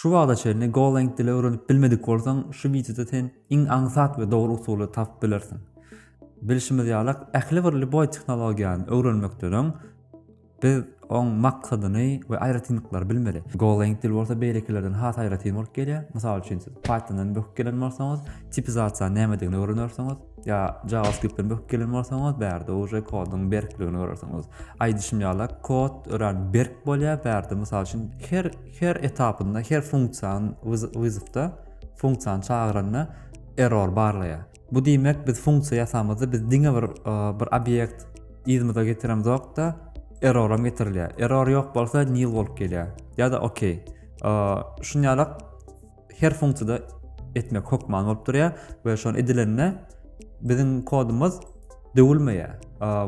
Şu wagta çenli Golang dili öwrenip bilmedik bolsaň, şu wideoda sen iň aňsat we dogry usuly tapyp bilersiň. Bilşimiz ýaly, ähli bir lýuboý tehnologiýany öwrenmekden öň biz oň maksadyny we aýratynlyklary bilmeli. Golang dili bolsa beýlekilerden has aýratyn bolup gelýär. Mysal üçin, siz Python-dan böküp gelen bolsaňyz, tipizasiýanyň nämedigini öwrenersiňiz. ýa JavaScript-den böküp gelen bolsaňyz, bärde uje koduň berkligini görersiňiz. Aýdyşym ýaly, kod örän berk bolýar, bärde mysal üçin her her etapynda, her funksiýany wyzywda, funksiýany çagyranda error barlaýar. Bu diýmek, biz funksiýa ýasamyzda biz diňe bir e, bir obýekt yzymyza getiremizok-da, erroram getirilýär. Error ýok bolsa nil bolup gelýär. Ýa-da okey. E, Şuny ýalak her funksiýada etmek hökman bolup durýar we şony edilende biziň kodumyz döwülmeýär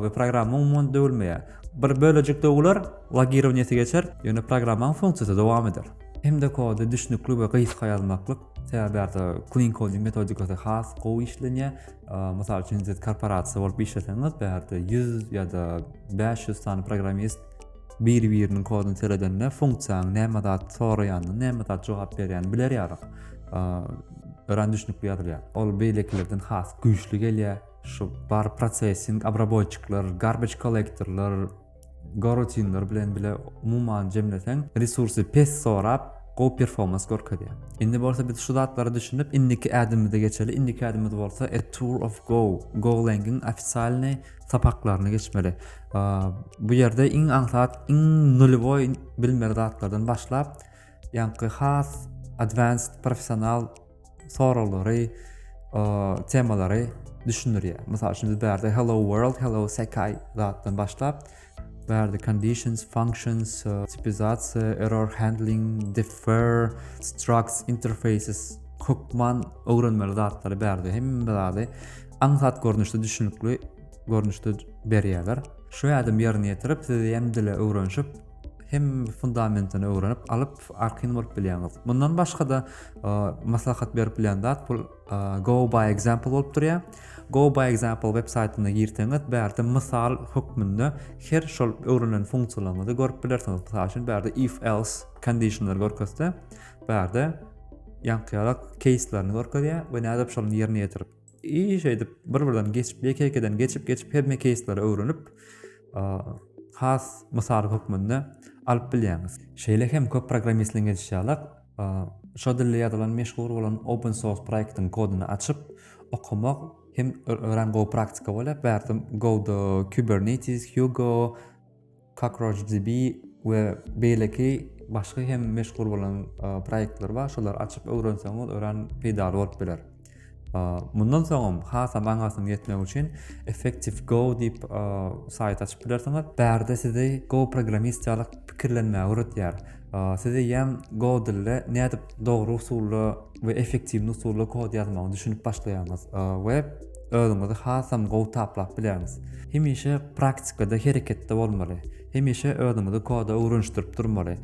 we programma umuman döwülmeýär. Bir bölejik döwüler, logirowaniýesi geçer, ýöne programmanyň funksiýasy dowam eder. Hem-de kody düşnükli we gysga ýazmaklyk, sebäbi ýa-da clean coding metodikasy has gowy işlenýär. Mysal üçin, siz korporasiýa bolup işleseňiz, bärde 100 ýa-da 500 sany programmist biri-biriniň koduny seredende funksiýanyň näme zat soraýanyny, näme zat jogap berýänini biler ýalyk. Örän düşünikli ýazylýar. Ol beýlekilerden has güýçli gelýär. Şu bar prosessing, obraboýçyklar, garbage kollektorlar, gorotinler bilen bile umuman jemleseň, resursy pes sorap, gowy performans görkezýär. Indi bolsa biz şu zatlara düşünip, indiki ädimimize geçeli. Indiki ädimimiz bolsa A Tour of Go, Golang-yň ofisialnyý sapaklaryny geçmeli. Bu ýerde iň aňsat, iň nulýowy bilmeli zatlardan başlap, ýaňky has advanced professional soraglary, temalary düşündirýär. Mysal üçin, biz bärde hello world, hello sekai zatdan başlap, Bärde conditions, functions, tipizasiýa, error handling, defer, structs, interfaces, hökman öwrenmeli zatlary bärde hemme zady aňsat görnüşde düşünikli görnüşde berýärler. Şu ädim ýerine ýetirip, siz hem dile öwrenişip, hem fundamentini öwrenip alyp, arkin bolup bilýäňiz. Mundan başga-da maslahat berip bilen zat bu Go by example bolup durýar. Go by example web saýtyna girseňiz, bärde mysal hökmünde her şol öwrenilen funksiýalaryňyzy görüp bilersiňiz. Mysal üçin, bärde if else conditionlar görkezse, bärde ýaňkyýalak keýslerini görkezýär we näde şonuň ýerine ýetirip. Iş edip, bir-birden geçip, ýeke-ýekeden geçip, geçip hemme keýsleri öwrenip, has mysal hökmünde alyp bilýäňiz. Şeýle hem köp programmistleň edişýalak, Şo dilde ýazylan meşhur bolan Open Source proýektiň kodyny açyp okamak hem örän gowy praktika bolýar. Bärde Go-da Kubernetes, Hugo, CockroachDB we beýleki başga hem meşhur bolan proýektler bar. Şolary açyp öwrenseňiz örän peýdaly bolup biler. Mundan soňam hasam aňarsyň ýetmek üçin Effective Go diýip saýt açyp bilersiňiz. Bärde sizi Go programmist ýaly pikirlenmäge öwredýär. Sizi ýam Go dilde nädip dogry usulda we effektiwni usulda kod ýazmagy düşünip başlaýaňyz we özüňizi hasam gowy taplap bilerňiz. Hemişe praktikada hereketde bolmaly. Hemişe özüňizi koda öwrenişdirip durmaly.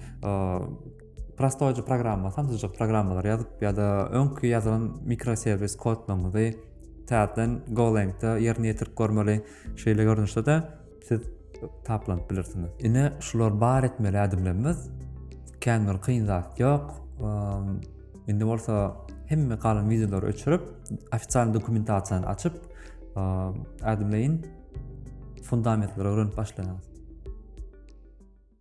Prostoýja programma, samsyjyk programmalar ýazyp ýa-da öňki ýazylan mikroserwis kodlaryňyzy täzeden Golangda ýerine ýetirip görmeli. Şeýle görnüşde-de siz taplanyp bilirsiňiz. Ine, şular bar etmeli ädimlerimiz. Kän bir kyn zat ýok. Indi bolsa hemme galan wideolary öçürip, ofisial dokumentasiýany açyp, ädimleýin fundamentleri öwrenip başlaýarys.